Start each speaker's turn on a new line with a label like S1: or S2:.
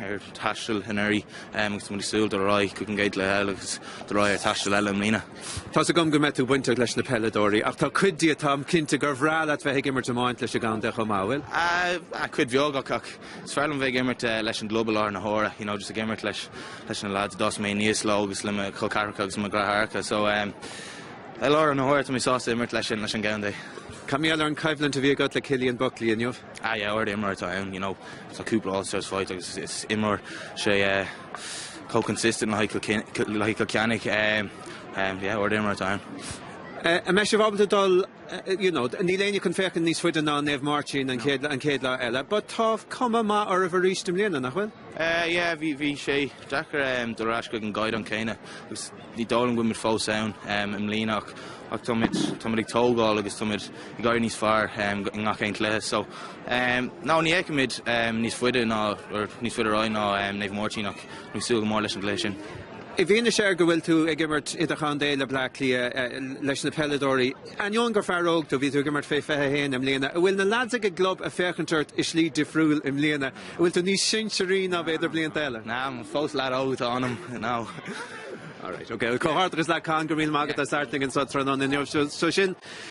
S1: ar taisteal anuraidh agus tá muid ag súil dul ar aghaidh chuig an gcéad lá eile agus dul ar aghaidh ar taisteal eile i mbliana. Tá's agam go
S2: mbeidh tú bainteach leis na peileadóirí ach tá cuid díot táim cinnte gur bhreá leat bheith ag imirt iomáint leis an gcontae chomh maith, bhfuil? Ah, cuid
S1: bheag acu. Ach is fearr liom bheith ag imirt leis an gclub i láthair na huaire, you know, just ag imirt leis leis na lads a d'fhás mé aníos leo agus le mo chol ceathracha agus mo dheartháireacha. So, ehm, i láthair na huaire tá mé sásta imirt leis an leis an gcontae. Cad mar gheall ar an
S2: choimhlint a bhí agat le Cillian Buckley inniu? Ah yeah, ard imreoir
S1: atá ann, you know, tá cúpla All-Stars faighte agus is imreoir sé chomh consistent le haghaidh Cill Chainnigh, umm, yeah, ard imreoir atá ann. An mbeidh
S2: sibh ábalta dul, you know, níl éinne chun féachaint níos faide ná Naomh Máirtín an chéad, an chéad lá eile, but tá cuma maith oraibh arís i mbliana, nach bhfuil? Yeah, bhí, bhí
S1: sé deacair dul ar ais chuig an gcaighdeán céanna agus. Ní dóigh liom go bhfuimid fós ann i mbliana ach táimid ag tógáil agus táimid ag éirí níos fearr i ngach aon chluiche. So nah, ní fheicimid níos faide ná níos faide ar aghaidh ná Naomh Máirtín ach bhí súil go mór leis an gcluiche sin. I bhfianaise
S2: ar go bhfuil tú ag imirt idirchontae le Bleá Cliath leis na peileadóirí, ainneoin gur fear óg tú, bhí tú ag imirt fé 21 i mbliana, an bhfuil na lads ag an gclub ag féachaint ort i slí difriúil i mbliana? bhfuil tú níos sinsearaí ná b'fhéidir blianta eile? Nah, fós lad
S1: óg atá ionam, you know.
S2: Alright, ok. Comhghairdeas leat Con, go raibh míle maith agat as labhairt linn anseo tráthnóna inniu. Seo sin,